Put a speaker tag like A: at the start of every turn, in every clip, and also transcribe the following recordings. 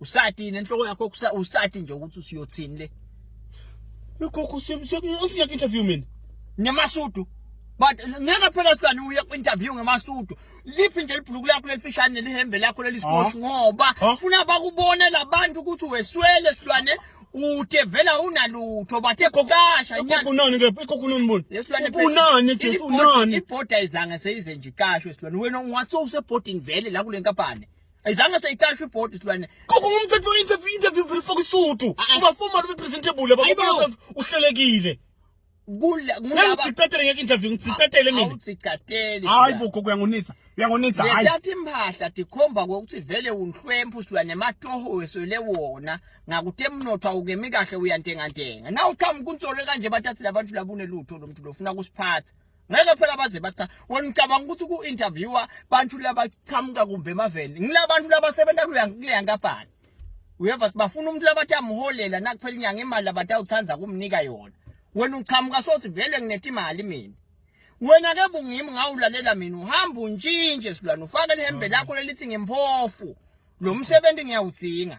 A: usati nenhloko yakho kusa usati nje ukuthi usiyothini le
B: ugogo usiya ku interview mina ngamasudu
A: but ngeke phela sibani uye ku interview ngamasudu liphi nje libhuluku lakho lelifishane lihembe lakho lelisikhoshi ngoba ufuna bakubone labantu ukuthi weswele silwane ude vela unalutho bathe kokasha inyanga kunani ke
B: ikokunani bona lesilwane kunani
A: nje
B: kunani ibhoda izange
A: seyize nje iqashwe silwane wena ungatso usebhodini vele la kule nkampani ayizange seyiqashe ibhodi silwane koko ngumthetho
B: interview interview vele faka isudu ah, ah. uba formal ube presentable baba uhlelekile kula ngicicatele ngeke interview ngicicatele mina awucicatele hayi
A: boko kuyangonisa
B: uyangonisa hayi ngiyathi impahla
A: dikhomba ukuthi vele unhlwempu silwane matoho weswele wona ngakuthi emnotho awukemi kahle uyantengantenga nawu qhamuka unsolo kanje bathi athi labantu labune lutho lomntu lofuna kusiphatha ngeke phela baze bathi wena ucabanga ukuthi ku-interviewa bantu labachamuka kumbe emaveni ngilabantu labasebenza kuleya nkampani uyeva bafuna umuntu labathi amholela nakuphela inyanga imali labatawuthanda kumnika yona wena uchamuka sothi vele ngineta imali mina wena ke bungimi ngawulalela mina uhamba untshintshe silwana ufake lihembe lakho lelithi ngimphofu lo msebenzi ngiyawudzinga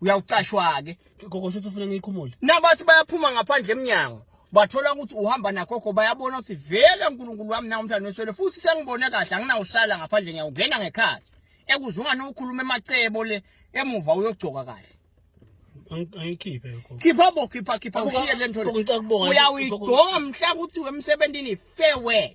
A: uyawucashwa-ke gogo shuthi ufuna ngiyikhumule
B: nabathi bayaphuma
A: ngaphandle emnyango bathola ukuthi uhamba nagogo bayabona ukuthi vele unkulunkulu wami nawo umhlaba noswele futhi sengibone kahle anginawusala ngaphandle ngiyawungena ngekhathi ekuzungane ukhuluma emacebo le emuva uyogcoka kahle
B: angikhiphe lokho khipha bo khipha khipha
A: ushiye le nto uyawuyigoma mhla ukuthi wemsebenzini farewell